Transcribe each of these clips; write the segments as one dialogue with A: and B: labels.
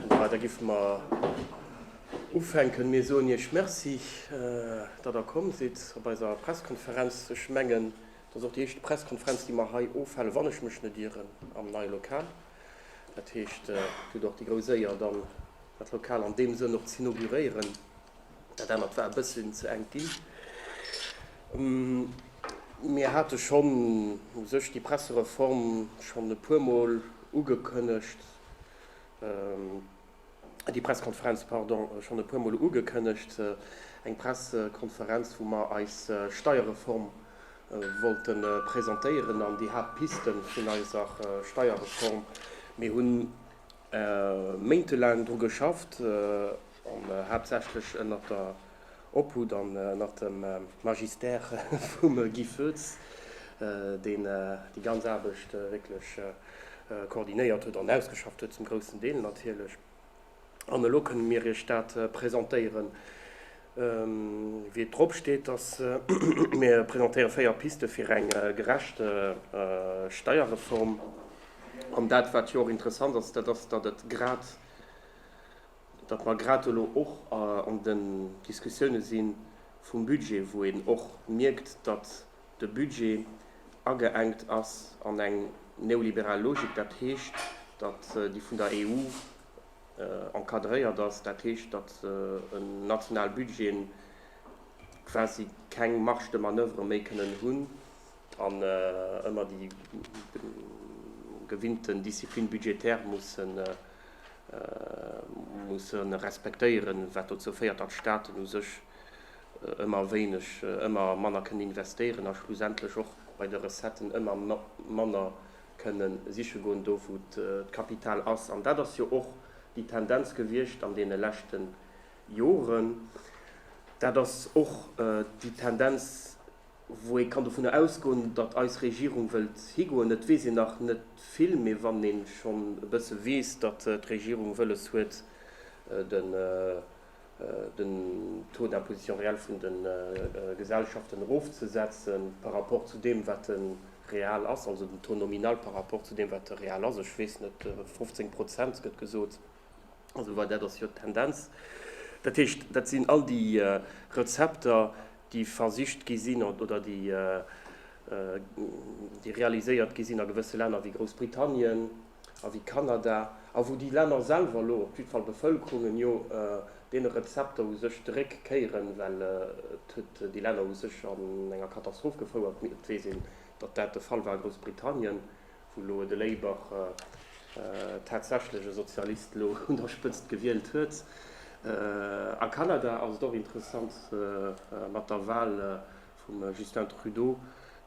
A: Da giffe mer ufänken. Mir soen Iech Merci, datt Der komm sidd op eiser Presskonferenz. Ech mengen, dat ass och déi éischte Presskonferenz, déi mer hei ofhalen, wann ech mech net ieren, am neie Lokal. Dat heescht, Dir hutt och déi grouss Éier, dann dat Lokal an deem Sënn och z'inauguréieren. Dat anert war e bësschen ze enk ginn. Mir hate schonn u sech déi Pressereform schonn e puermol ugekënnegt, déi Presskonferenz, pardon, schonn e puermol ugekënnegt, eng Pressekonferenz, wou mer eis Steierreform wollte presentéieren an déi Haaptpiste vun eiser Steierreform. Mir hu méintelaang dru geschafft. an haaptsächlech ënnert der Obhut an ënnert dem Magistère vum Guy Foetz, deen déi ganz Aarbecht wierklech koordinéiert huet an ausgeschafft huet, zum groussen Deel natierlech. An elo kënnen mir Iech dat presentéieren, wéi et drop steet, dass mir presentéiere véier Piste fir eng gerecht Steierreform. An dat, wat jo och interessant ass, dat ass, datt et grad, datt mer grad elo och an den Diskussioune si vum Budget, wou een och mierkt, datt de Budget ageengt ass an eng neoliberal Logik, dat heescht, datt déi vun der EU encadréiert ass, dat heescht, datt en national Budgeten quasi keng Marge de manoeuvre méi kënnen hunn an ëmmer déi gewinnten Discipline budgétaire mussen musse respektéieren, wat dozou féiert, datt d'Staaten u sech ëmmer wéineg, ëmmer manner kënnen investéieren a schlussendlech och bei de Recetten ëmmer manner kënne siche goen, do wou d'Kapital ass. An dat ass jo och déi Tendenz gewiescht an deene leschte Joren. Dat ass och déi Tendenz, Wou ee kann dovunner ausgoen, datt eis Regierung wëllt higoen, et weess een nach net vill, mee wann ee schonn e bësse weess, datt d'Regierung wëlles huet, den Taux d'imposition réelle vun de Gesellschaften erofzesetzen par rapport zu deem, wat e real ass, also den Taux nominal par rapport zu deem, wat e real ass, ech weess net, 15 Prozent gëtt gesot. Also well dat ass jo d'Tendenz. Dat heescht, dat sinn all déi Rezepter, déi versicht gi sinn oder déi realiséiert gi sinn a gewësse Länner wéi Groussbritannien a wéi Kanada a wou déi Länner selwer elo, op jiddwer Fall d'Bevëlkerungen, jo deene Rezepter u sech zeréck kéieren, well et huet déi Länner u sech an enger Katastroph gefouert. Et weess een, datt dat de Fall war a Groussbritannien, Vu Loe de Léiber tatsächlech e Sozialist elo un der Spëtzt gewielt huet. A Kanada ass et och interessant mat der Wahl vum Justin Trudeau,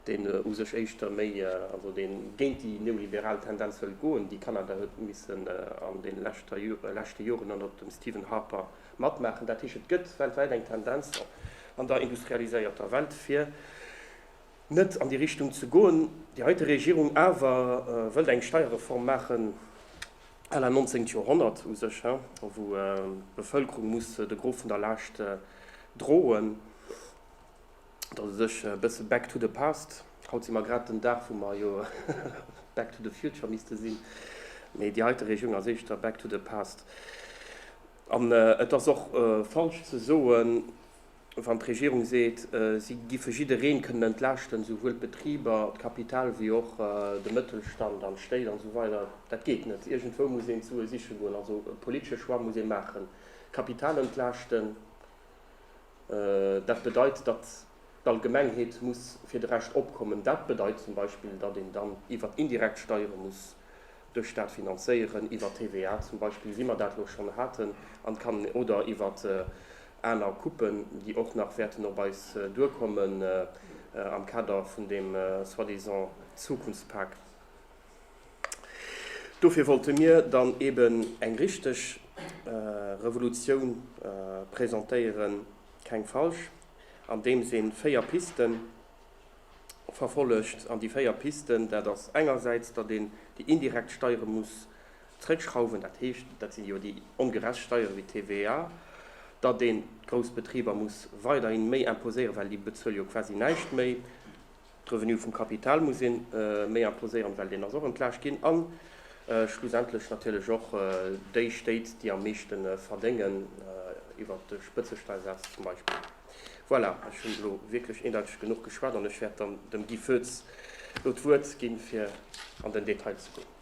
A: deen u sech éischter méi, also deen géint déi neoliberal Tendenz wëllt goen, déi Kanada huet missen an den leschte Joren ënnert dem Stephen Harper matmaachen. Dat heescht, et gëtt weltwäit eng Tendenz an der industrialiséierter Welt fir, net an déi Richtung ze goen. Déi heite Regierung awer wëllt eng Steierreform maachen à la Nonzéngt Joerhonnert u sech, wou d'Bevëlkerung muss de Gros vun der Laascht droen. Et ass u sech e bësse back to the past. Haut si mer grad den Dag, wou mer jo back to the future misste sinn, mee déi heite Regierung ass éischter back to the past. An et ass och falsch ze soen, Wann d'Regierung seet, si giffe jiddereen kënnen entlaaschten, esouwuel d'Betriber, d'Kapital wéi och de Mëttelstand an d'Stéit an esou weider, dat geet net. Iergendwou muss een d'Sue siche goen. Also e politesche Choix muss ee maachen. D'Kapital entlaaschten, dat bedeit, datt d'Allgemengheet muss fir de Rescht opkommen. Dat bedeit zum Beispill, datt een dann iwwert indirekt Steiere muss de Staat finanzéieren, iwwer TVA zum Beispill, wéi mer dat elo schonn haten, an kann, oder iwwert Aner Coupen, déi och nach wäerten op eis duerkommen am Kader vun deem soi-disant Zukunftspak. Dofir wollte mir dann eben eng richteg Revolutioun presentéieren, keng falsch, andeems een véier Pisten verfollegt. An déi véier Pisten, dat ass engersäits, datt een déi indirekt Steiere muss Zréckschrauwen, dat heescht, dat sinn jo déi ongerecht Steiere wéi d'TVA, datt een d'grouss Betriber muss weiderhin méi imposéieren, well déi bezuele jo quasi näischt méi. D'Revenue vum Kapital muss ee méi imposéieren, well deen ass och entlaascht ginn. A schlussendlech natierlech och déi Stéit, déi am meeschte verdéngen, iwwert de Spëtzesteiersaz zum Beispill. Voilà, ech hunn elo wierklech eendeiteg genuch geschwat an ech wäert dann dem Guy Foetz elo d'Wuert ginn, fir an den Detail ze goen.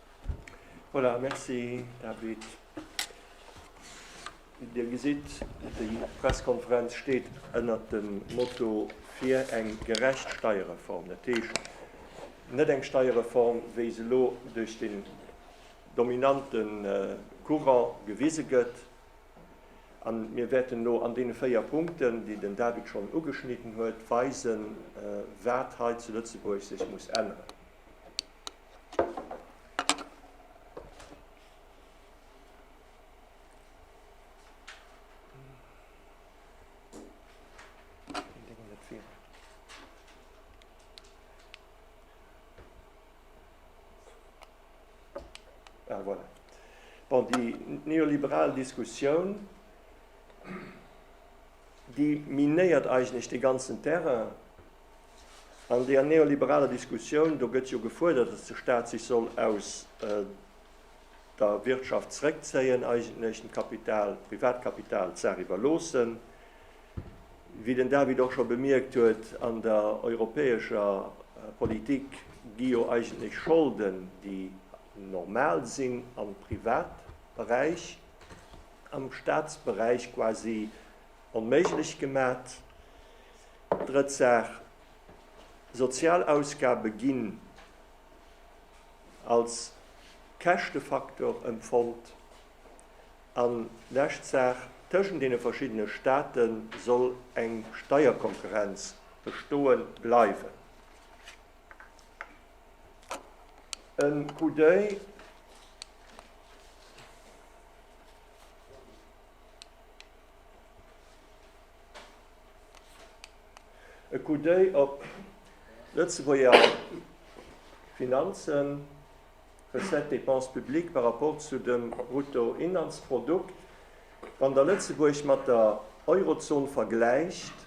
A: Voilà, merci David. Dir gesitt, déi Presskonferenz steet ënnert dem Motto fir eng gerecht Steierreform. Dat heescht net eng Steierreform, wéi se elo duerch den dominante Courant gewise gëtt. A mir wäerten elo an deene véier Punkten, déi den David schonn ugeschnidden huet, weisen, wat hei zu Lëtzebuerg sech muss änneren. Ah, voilà. bon, die neoliberale Diskussion die minéiert eigentlich den ganzen Terrain. An deer neoliberaler Diskussioun, do gëtt jo gefuerdert, datt de Staat sech soll aus der Wirtschaft zrëckzéien, eigentlech dem Kapital, dem Privatkapital d'Saach iwwerloossen. Wéi den David och scho bemierkt huet, an der europäescher Politik gi jo eigentlech Scholden, déi normal sinn am Privatberäich, am Staatsberäich quasi onméiglech gemat. Drëtt Saach, Sozialausgabe ginn als Käschtefaktor empfonnt. An lescht Saach, Tëschent deene verschiddene State soll eng Steierkonkurrenz bestoe bleiwen. E Coup d'oeil E Coup d'oeil op d'Lëtzebuerger Finanzen, Recettes, Dépenses publiques par rapport zu dem Bruttoinlandsprodukt. Wann Der Lëtzebuerg mat der Eurozon vergläicht,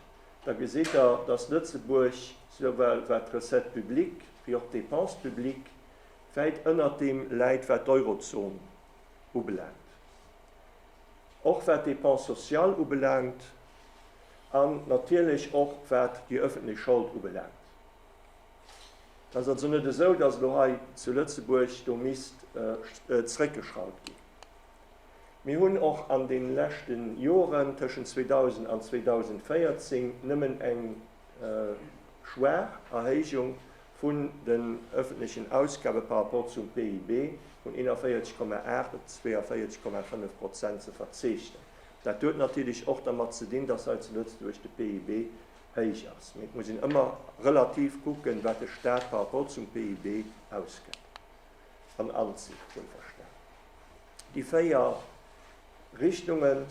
A: da gesitt Der, datt Lëtzebuerg souwuel wat d'Recettes publiques wéi och d'Dépenses publiques wäit ënnert deem läit, wat d'Eurozon ubelaangt. och wat d'Dépenses sociales ubelaangt an natierlech och wat déi öffentlech Schold ubelaangt. Et ass also net esou, dass elo hei zu Lëtzebuerg do misst zréckgeschraut ginn. Mir hunn och an deene leschte Joren tëschent 2000 an 2014 nëmmen eng schwaach Erhéijung vun den ëffentlechen Ausgabe par rapport zum PIB vun 41,8 op 42,5 Prozent ze verzeechnen. Dat huet natierlech och dermat ze dinn, dass hei zu Lëtzebuerg de PIB héich ass. Mee et muss een ëmmer relativ kucken, wat de Stat par rapport zum PIB ausgëtt an anzitt, wuelverstan. Déi véier Richtungen.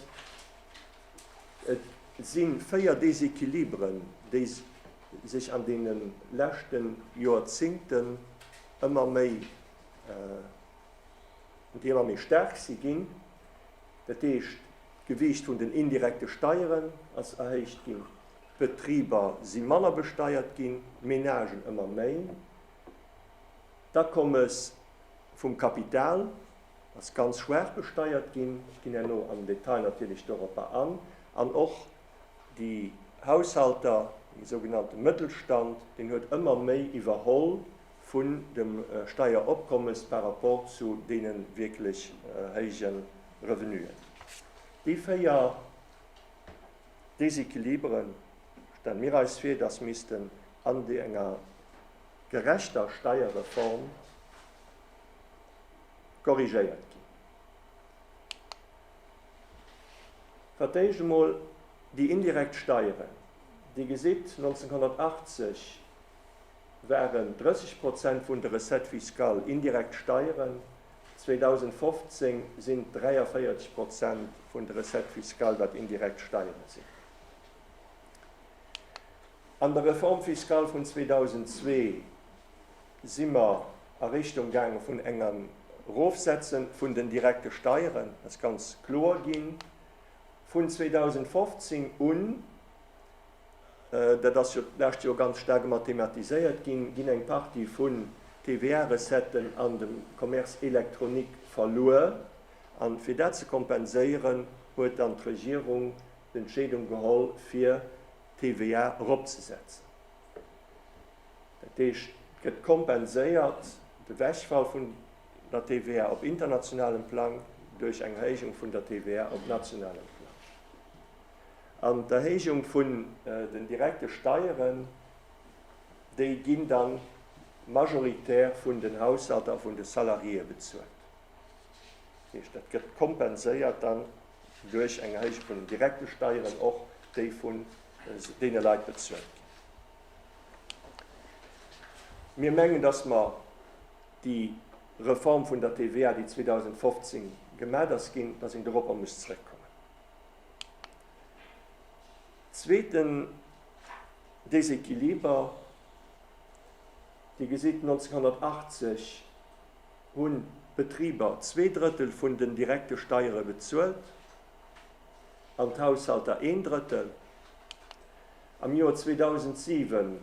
A: Et si véier Déséquilibren, déi sech an deene leschte Joerzingten ëmmer méi, déi ëmmer méi staark si ginn. Dat heescht, d'Gewiicht vun den indirekte Steieren ass erhéicht ginn, d'Betriber si manner besteiert ginn, d'Menagen ëmmer méi, d'Akommes vum Kapital, ass ganz schwaach besteiert ginn, ech ginn herno am Detail natierlech doropper an, an och déi Haushalter, dee sougenannte Mëttelstand, deen huet ëmmer méi iwwerholl vun dem Steieropkommes par rapport zu deene wierklech héije Revenuen. Déi véier Déséquilibere stelle mir eis vir, dass missten an enger gerechter Steierreform, korrigéiert ginn. Fir d'éischt emol déi indirekt Steieren. Dir gesitt, 1980 waren 30 Prozent vun de Recettes fiscales indirekt Steieren, 2015 sinn et 43 Prozent vun de Recettes fiscales, wat indirekt Steiere sinn. An der Réforme fiscale vun 2002 si mer a Richtung gaange vun engem Erofsetze vun den direkte Steieren, dat ass ganz kloer ginn. Vun 2015 un, dat ass jo d'lescht Joer ganz staark ëmmer thematiséiert ginn, ginn eng Partie vun TVA-Recetten an dem Commerce électronique verluer. A fir dat ze kompenséieren, huet dann d'Regierung d'Entscheedung geholl, fir d'TVA eropzesetzen. Dat heescht, et gëtt kompenséiert, de Wegfall vun der TVA op internationalem Plang, duerch eng Erhéijung vun der TVA op nationalem Plang. An d'Erhéijung vun den direkte Steieren, déi ginn da majoritär vun den Haushalter a vun de Salariéë bezuelt. Dat heescht, dat gëtt kompenséiert dann duerch eng Erhéijung vun den direkte Steieren och déi vun deene Leit bezuelt ginn. Mir mengen, dass mer déi Reform vun der TVA, déi 2015 gemat ass ginn, dass een doropper muss zrëckkommen. Zweeten Déséquiliber, Dir gesitt, 1980 Hunn d'Betriber zwee Drëttel vun den direkte Steiere bezuelt an d'Haushalter een Drëttel? Am Joer 2007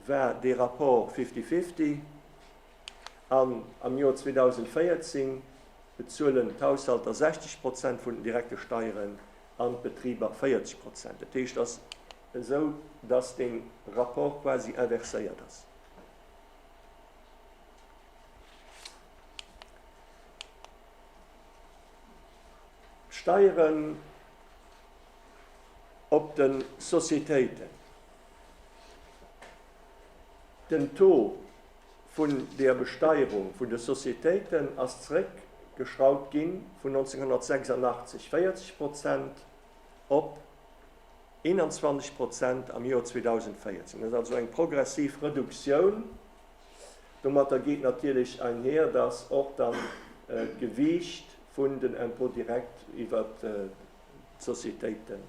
A: war dee Rapport fifty-fifty an am Joer 2014 bezuelen d'Haushalter 60 Prozent vun den direkte Steieren an d'Betriber 40 Prozent. Dat heescht, et ass esou, dass dee Rapport quasi inverséiert ass. Steieren op de Sociétéiten, Den Taux vun der Besteierung vun de Sociétéiten ass zréck geschrauwt ginn, vun 1986, 40 Prozent, op 21 Prozent am Joer 2014. Dat ass also eng progressiv Reduktioun. Domatter geet natierlech einher, dass och dann d'Gewiicht vun den Impôts directs iwwert d'Societéiten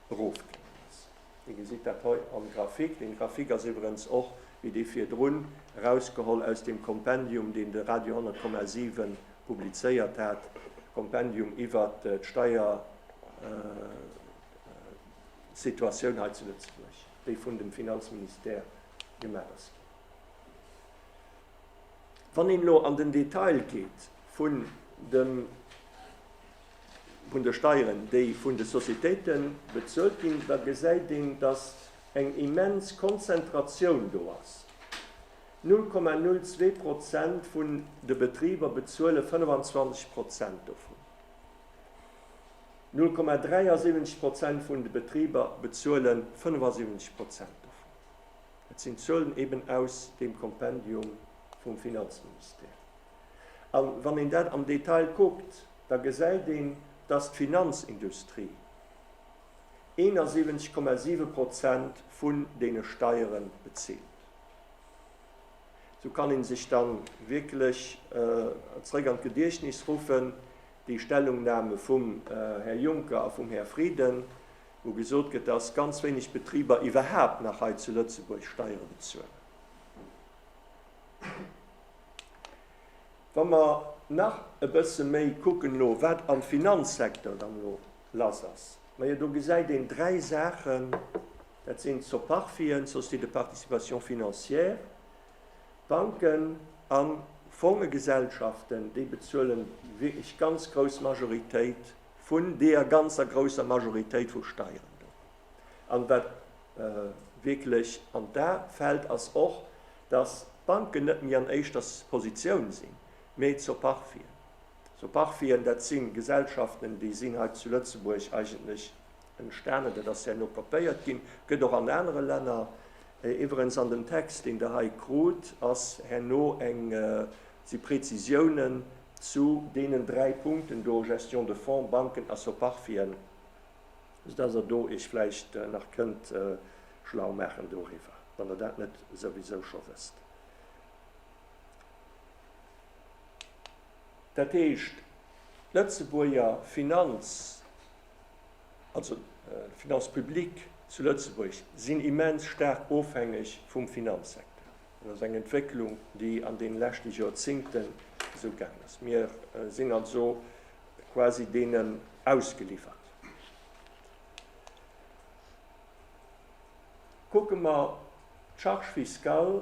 A: erofgaangen ass. Dir gesitt dat hei am Graphique. Dee Graphique ass iwwerens och, wéi dee virdrun, erausgeholl aus deem Kompendium, deen de Radio 10,7 publizéiert hat, Kompendium iwwert d'Steiersituatioun hei zu Lëtzebuerg, déi vun dem Finanzministère gemaach ass ginn. Wann een elo an den Detail geet vun de Steieren, déi vun de Societéite bezuelt ginn, da gesäit een, dass eng immens Konzentratioun do ass, 0,02 Prozent vun de Betriber bezuele 25 Prozent dovun, 0,73 Prozent vun de Betriber bezuele 75 Prozent dovun. Et sinn Zuelen eben aus deem Kompendium vum Finanzministère. A wann een dat am Detail kuckt, da gesäit een, dass d'Finanzindustrie 71,7 Prozent vun deene Steiere bezilt. Sou kann ee sech da wierklech zeréck an d'Gediechtnis ruffen, déi Stellungnahme vum Här Juncker a vum Här Frieden, wou gesot gëtt, dass ganz wéineg Betriber iwwerhaapt nach hei zu Lëtzebuerg Steiere bezuelen. Wa mer nach e bësse méi kucken elo, wat am Finanzsecteur dann elo lass ass, majo do gesäit een dräi Saachen, dat sinn d'Soparfien, d'Sociétés de participation financière, d'Banken a Fongegesellschaften, déi bezuelen wierklech ganz grouss Majoritéit vun deeër ganzer grousser Majoritéit vu Steieren do. An wat wierklech an d'A fält, ass och, dass d'Banken net méi an éischter Positioun sinn, mee Zoparfien. Zoparfien, dat si Gesellschaften, déi sinn hei zu Lëtzebuerg eigentlech entstanen, dat ass herno kopéiert ginn, gëtt och an anere Länner. Iwwerens an dem Text, deen Der hei krut, ass herno eng Si Prezisiounen zu deenen dräi Punkten do, Gestion de fonds, Banken a Soparfien, soudass Der do Iech vläicht nach kënnt schlau maachen doriwwer, wann Der dat net souwisou scho wësst. Dat heescht, d'Lëtzebuerger Finanz, also d'Finances publiques zu Lëtzebuerg, sinn immens staark ofhängeg vum Finanzsecteur. Dat ass eng Entwécklung, déi an deene leschte Joerzingte sou gaangen ass. Mir sinn also quasi deenen ausgeliwwert. Kucke mer d'Charge fiscale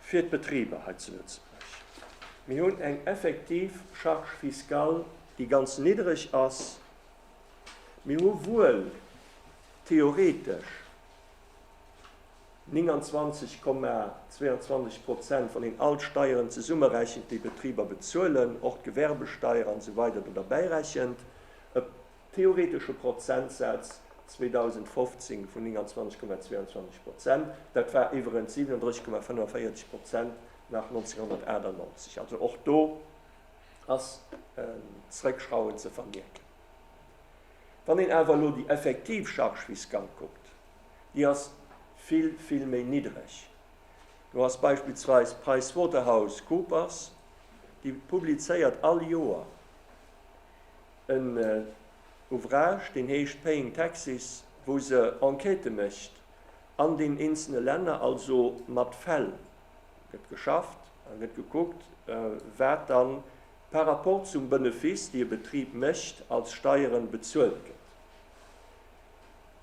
A: fir d'Betriber hei zu Lëtzebuerg. Mir hunn eng effektiv Charge fiscale, déi ganz niddereg ass. Mir hu wuel theoretesch. 29,22 Prozent, wann een all d'Steieren zesummerechent, déi Betriber bezuelen, och d'Gewerbesteier an esou weider do derbäirechent, e theoretesche Prozentsaz 2015 vun 29,22 Prozent. Dat war iwwerens 37,45 Prozent nach 1998. Also och do ass en Zréckschrauen ze vermierken. Wann een awer elo déi effektiv Charge fiscale kuckt, déi ass vill, vill méi niddreg. Do ass beispillsweis PricewaterhouseCoopers, déi publizéiert all Joer en Ouvrage, deen heescht Paying Taxes, wou se Enquêtë mécht an den eenzele Länner, also mat Fäll gëtt geschafft a gëtt gekuckt, wat dann par rapport zum Benefice, déi e Betrib mécht, als Steiere bezuelt gëtt.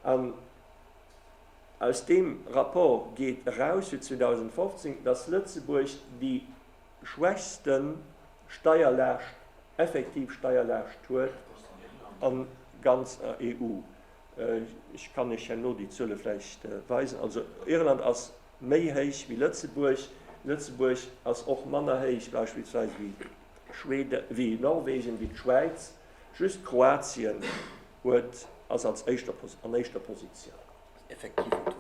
A: An aus deem Rapport geet eraus, fir 2015, dass Lëtzebuerg déi schwächste Steierlaascht, effektiv Steierlaascht huet a ganzer EU. Ech kann Iech herno déi Zuele vläicht weisen. Also Irland ass méi héich wéi Lëtzebuerg. Lëtzebuerg ass och manner héich beispillsweis wéi Schweden, wéi Norwegen, wéi d'Schwäiz. Just Kroatien huet, ass als éischter, an éischter Positioun. Den effektiven Taux.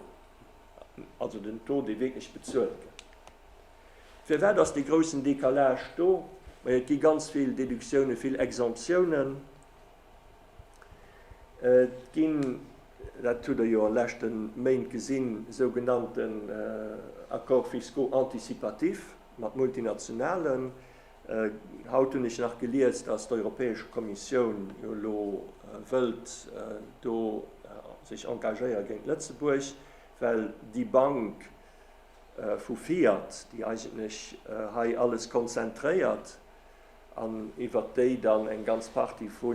A: Also den Taux, dee wierklech bezuelt gëtt. Firwat ass dee groussen Décalage do? Majo, et gi ganz vill Déductiounen, vill Exemptiounen. Et ginn, dat hutt Der jo an de leschte Méint gesinn, sougenannten Accords fiscaux anticipatifs mat Multinationalen. Haut hunn ech nach gelies, datt d'Europäesch Kommissioun jo elo wëllt do sech engagéiere géint Lëtzebuerg, well déi Bank vu Fiat, déi eigentlech hei alles konzentréiert an iwwert déi dann eng ganz Partie vu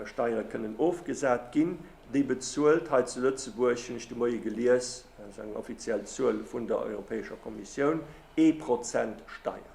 A: Steiere kënnen ofgesat ginn, déi bezuelt hei zu Lëtzebuerg, hunn ech de Moie gelies, dat ass eng offiziell Zuel vun der Europäescher Kommissioun, ee Prozent Steier.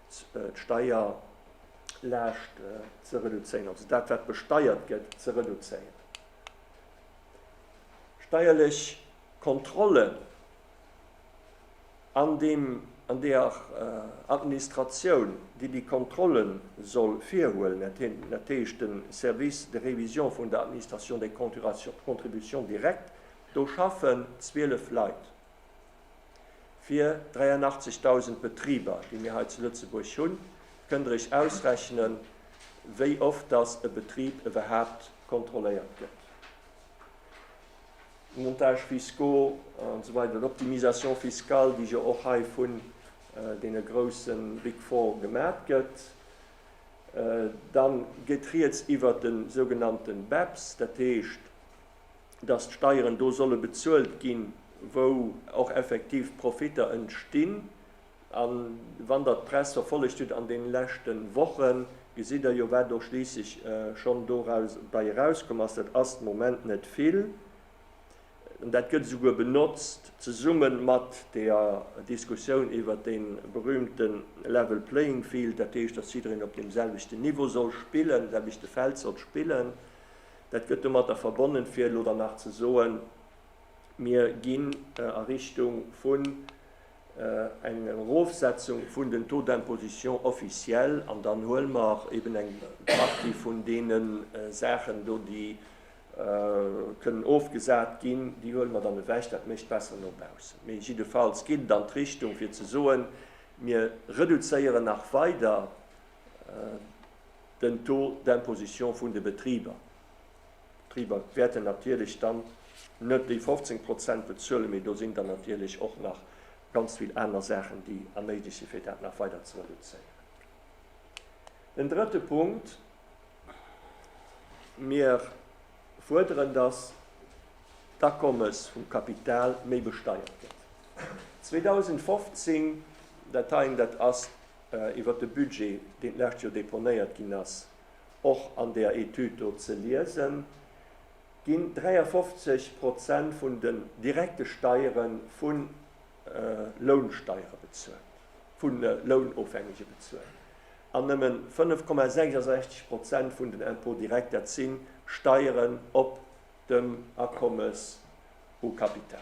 A: d'Steierlaascht ze reduzéieren, also dat wat besteiert gëtt ze reduzéieren. Steierlech Kontrollen an deem, an deeër Administratioun déi déi Kontrolle soll virhuelen, dat heescht de Service de révision vun der Administration des contributions directes, do schaffen 12 Leit. Fir 83.000 Betriber, déi mir hei zu Lëtzebuerg hunn, kënnt Der Iech ausrechnen, wéi oft dass e Betrib iwwerhaapt kontrolléiert gëtt. Montages fiscaux an esou weider, Optimisation fiscale, déi jo och hei vun deene grouse Big Four gemat gëtt. Da geet Rieds iwwert de sougenannte BEPS, dat heescht, datt d'Steieren do solle bezuelt ginn, wou och effektiv Profitter entstinn. A wann Der d'Press verfollegt hutt an deene leschte Wochen, gesitt Der jo, wat och schliisslech schonn dobäi erauskomm ass. Dat ass de Moment net vill. An dat gëtt esouguer benotzt, zesumme mat der Diskussioun iwwert dee berüümte level playing field, dat heescht, datt jiddereen op deem selwechten Niveau soll spillen, selwechte Feld soll spillen. Dat gëtt domatter verbonnen, fir elo dann nach ze soen, Mir ginn a Richtung vun enger Erofsetzung vun den Taux d'imposition officiel an dann huele mer eben eng Partie vun deene Saachen do, déi kënnen ofgesat ginn, déi huele mer dann ewech. Dat mécht besser no baussen. Mee jiddefalls geet et an d'Richtung, fir ze soen, Mir reduzéieren nach weider den Taux d'imposition vun de Betriber. D'Betriber wäerten natierlech dann net déi 15 Prozent bezuelen, mee do sinn dann natierlech och nach ganz vill aner Saachen, déi erméiglecht sinn, fir dat nach weider ze reduzéieren. Den drëtte Punkt, Mir fuerderen, dass d'Akommes vum Kapital méi besteiert gëtt. 2015, dat heien, dat ass. iwwert de Budget, deen d'lescht Joer deponéiert ginn ass, och an där Etüd do ze liesen, ginn 53 Prozent vun den direkte Steiere vu Lounsteiere bezuelt, vu Lounofhängege bezuelt, an nëmmen 5,66 Prozent vun den Impôts directs, dat si Steieren op dem Akommes au capital.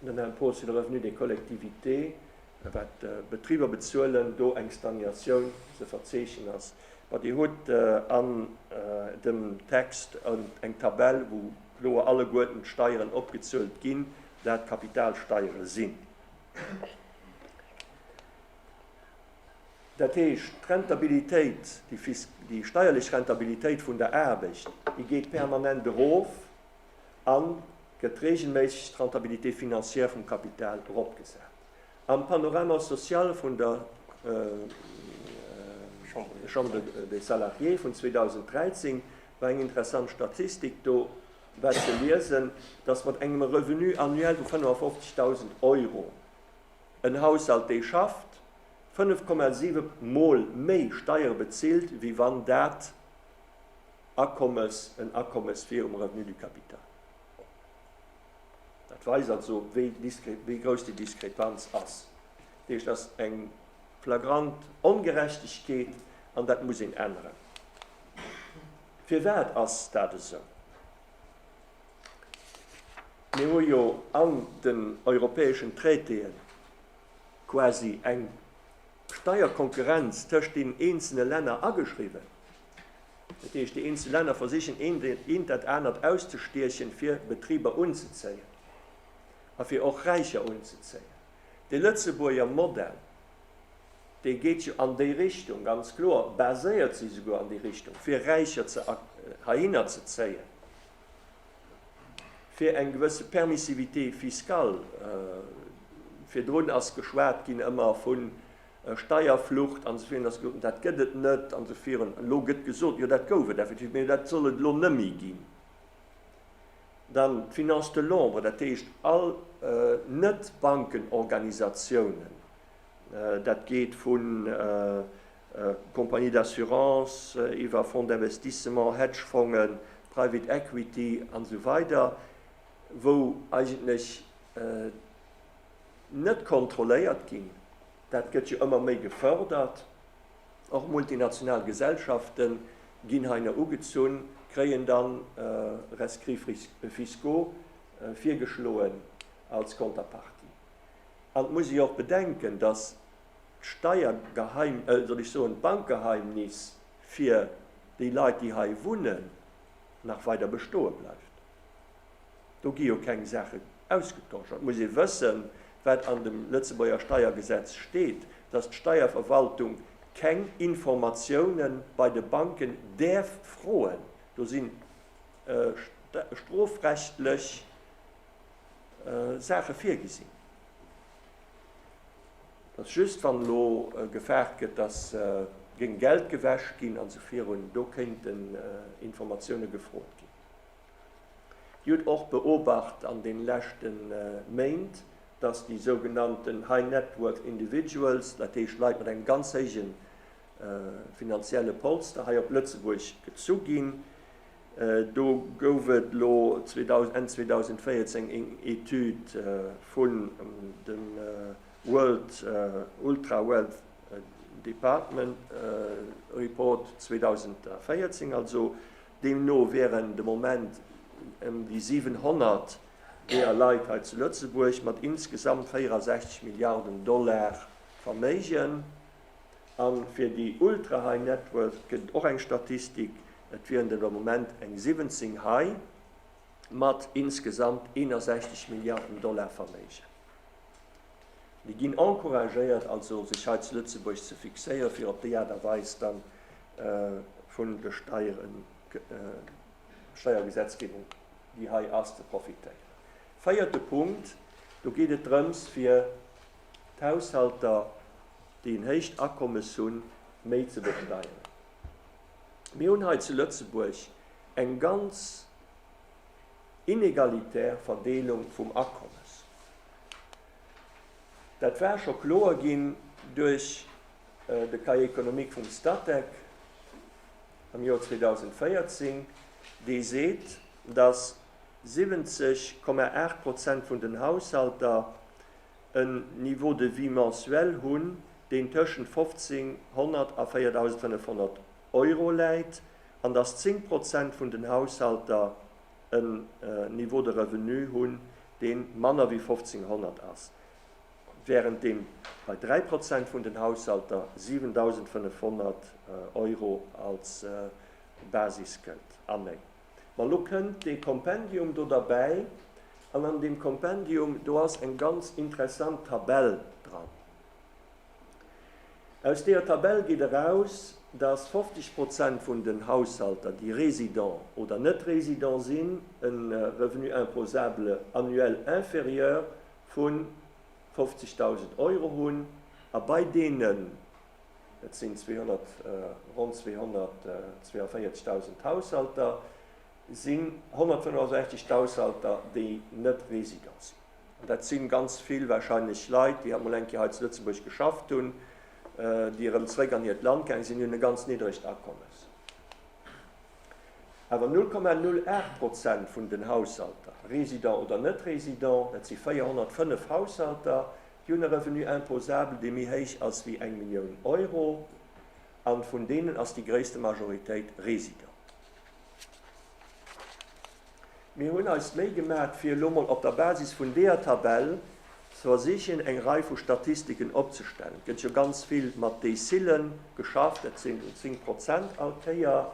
A: den Impôt sur le revenu des collectivités, wat d'Betriber bezuelen, do eng Stagnatioun ze verzeechnen ass. Mä Dir hutt an dem Text eng Tabell, wou kloer alleguerten d'Steieren opgezuelt ginn, dat d'Kapitalsteiere sinn. Dat heescht, d'Rentabilitéit, déi steierlech Rentabilitéit vun der Aarbecht, déi geet permanent erof. a gëtt reegelméisseg d'Rentabilité financière vum Kapital eropgesat. Am Panorama social vun der Chambre des Salariés vun 2013 war eng interessant Statistik. Do war ze liesen, dass mat engem Revenu annuel vu 55.000 Euro en Haushalt, dee schafft, 5,7 Mol méi Steiere bezilt, wéi wann dat Akommes, en Akommes virum Revenu du capital. Dat weist also, wéi grouss déi Diskrepanz ass. Dat heescht, et ass eng flagrant Ongerechtegkeet an dat muss een änneren. Firwat ass dat esou? Mir hu jo an den europäeschen Traitéë quasi eng Steierkonkurrenz tëscht deenen eenzele Länner ageschriwwen. Dat heescht, déi eenzel Länner versichen eent dat anert auszestiechen, fir Betriber unzezéien a fir och Räicher unzezéien. De Lëtzebuerger Modell, dee geet jo an déi Richtung, ganz kloer, baséiert sech esouguer an déi Richtung, fir Räicher heihinner ze zéien, fir eng gewësse Permissivité fiscale. Virdrun ass geschwat ginn ëmmer vu Steierflucht an esou virun, dass gesot, dat gëtt et net an esou virun. Elo gëtt gesot, jo dat gouf et effektiv, mee dat soll et elo nëmme ginn. Dann d'Finance de l'ombre, dat heescht all Net-Bankenorganisatiounen, dat geet vu Compagnies d'assurance iwwer Fonds d'investissement, Hedgefongen, Private Equity an esou weider, wou eigentlech. net kontrolléiert ginn, dat gëtt jo ëmmer méi gefërdert, och multinational Gesellschafte ginn hei no ugezunn, kréien dann rescrits fiscaux virgeschloen als Konterpartie. An et muss ee jo och bedenken, datt d'Steiergeheim, soll ech soen, d'Bankgeheimnis fir déi Leit, déi hei wunnen, nach weider bestoe bleift. Do gi jo keng Saache ausgetosch. Et muss ee wëssen, wat an dem Lëtzebuerger Steiergesetz steet, dass d'Steierverwaltung keng Informatioune bei de Banken däerf froen. Do si strofrechtlech Saache virgesinn. Et ass just, wann elo gefaart gëtt, dass géing Geld gewäsch ginn a sou virun, do kéinten Informatioune gefrot ginn. Dir hutt och beobacht an den leschte Méint, dass déi sougenannten High Net Worth Individuals, dat heescht Leit mat engem ganz héije finanzielle Polster, hei op Lëtzebuerg gezu ginn. Do gouf et elo Enn 2014 eng Etüd vun dem World Ultra Wealth Department Report 2014, also Deemno wieren de Moment ëm déi 700 deeër Leit hei zu Lëtzebuerg mat insgesamt 64 Milliarden Dollar Verméigen. A fir déi ultra-high net worth gëtt och eng Statistik, et wieren der de Moment eng 17 hei mat insgesamt 61 Milliarden Dollar Verméigen. Mir ginn encouragéiert also, sech hei zu Lëtzebuerg ze fixéieren, fir op déi Aart a Weis dann vun de Steieren, Steiergesetzgebung, déi hei ass, ze profitéieren. Véierte Punkt, do geet et drëms, fir d'Haushalter, déi en héicht Akommes hunn, méi ze besteieren. Mir hunn hei zu Lëtzebuerg eng ganz. inegalitär Verdeelung vum Akommes. Dat war scho kloer ginn duerch de Cahier économique vum Statec am Joer 2014, dee seet, datt 70,8 Prozent vun den Haushalter en Niveau de vie mensuel hunn, deen tëschent 1.500 a 4.500 Euro läit an dass 10 Prozent vun den Haushalter en Niveau de revenu hunn, dee manner wéi 1.500 ass, wärend deem bei 3 Prozent vun den Haushalter 7.500 Euro als Basis gëllt. A méi. Ma lo kënnt dee Kompendium do derbäi, an an deem Kompendium do ass eng ganz interessant Tabell dran. Aus deeër Tabell geet eraus, dass 50 Prozent vun den Haushalter, déi résident oder net résident sinn, e Revenu imposable annuel inférieur vu 50.000 Euro hunn a bei deenen, et sinn 200, ronn 242.000 Haushalter, sinn 165 d'Haushalter, déi net résident sinn. An dat si ganz vill wahrscheinlech Leit, déi halt mol eng Kéier hei zu Lëtzebuerg geschafft hunn, déi erëm zréck an hiert Land gaange sinn, déi hunn e ganz niddregt Akommes. Awer 0,08 Prozent vun den Haushalter, résident oder net résident, dat si 405 Haushalter, déi hunn e Revenu imposable, dee méi héich ass wéi eng Millioun Euro. A vun deenen ass déi gréisste Majoritéit résident. Mir hunn eis d'Méi gemat fir elo mol op der Basis vun deeër Tabell ze versichen eng Rei vu Statistiken opzestellen. Et gëtt jo ganz vill mat Dezillen geschafft, dat sinn déi 10 Prozent all Kéier.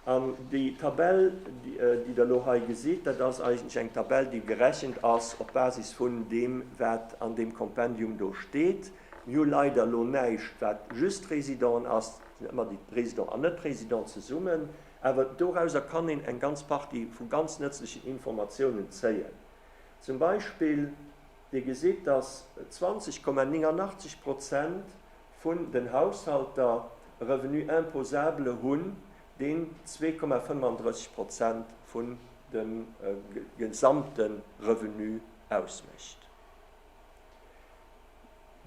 A: An déi Tabell déi der elo hei gesitt, dat ass eigentlech eng Tabell déi gerechent ass op Basis vun deem wat an deem Kompendium do steet. Mir hu leider elo näischt wat just Résident ass, et sinn ëmmer déi Résident an Net-Résident zesummen. Awer dorauser kann een eng ganz Partie vu ganz nëtzlechen Informatiounen zéien. Zum Beispill, Dir gesitt, dass 20,89 Prozent vun den Haushalter e Revenu imposable hunn, deen 2,35 Prozent vun dem gesamte Revenu ausmécht.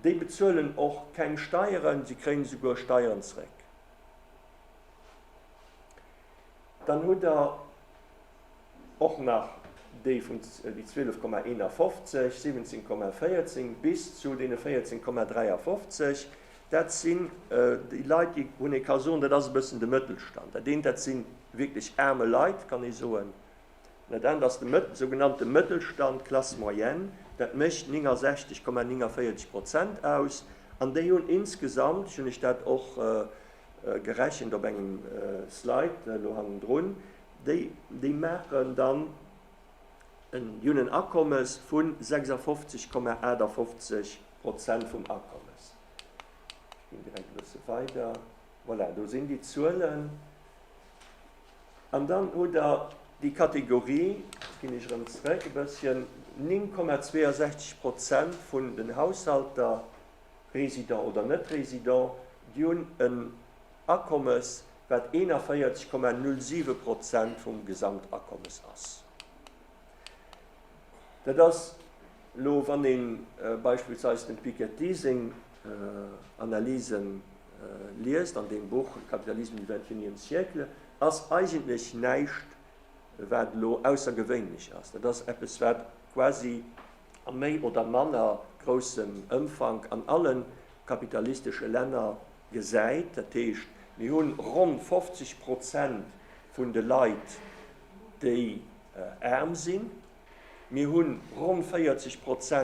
A: Déi bezuelen och keng Steieren, si kréien esouguer Steieren zréck. Dann hutt Der och nach déi vum, déi 12,51, 17,14 bis zu deene 14,53. Dat sinn déi Leit, déi, wou een ee ka soen, dat ass e bëssen de Mëttelstand. Dat eent, dat si wierklech aarme Leit, kann ee soen. An dat anert ass de sougenannte Mëttelstand, Classe moyenne. Dat mécht 69,49 Prozent aus. An déi hunn insgesamt, ech hunn lech dat och gerechent op engem Slide elo hannendrun, déi déi maachen dann en déi hunn en Akommes vu 56,58 Prozent vum Akommes. Ech ginn direkt e bësse weider, voilà, do sinn déi Zuelen. An dann hutt Der déi Kategorie, ech ginn iech erëm zrëck e bësschen, 9,62 Prozent vun den Haushalter, Resident oder Net-Resident, déi hunn en Akommes, wat 41,07 Prozent vum Gesamtakommes ass. Dat ass elo, wann ee beispillsweis dem Piketty seng Analyse liest an deem Buch Le capitalisme du vingt-et-unième siècle, ass eigentlech näischt, wat elo aussergewéinlech ass. Dat ass eppes, wat quasi a méi oder manner groussem Ëmfank an alle kapitalistesche Länner gesäit. Dat heescht, mir hu ronn 50 Prozent vun de Leit, déi aarm sinn, mir hu ronn 40 Prozent,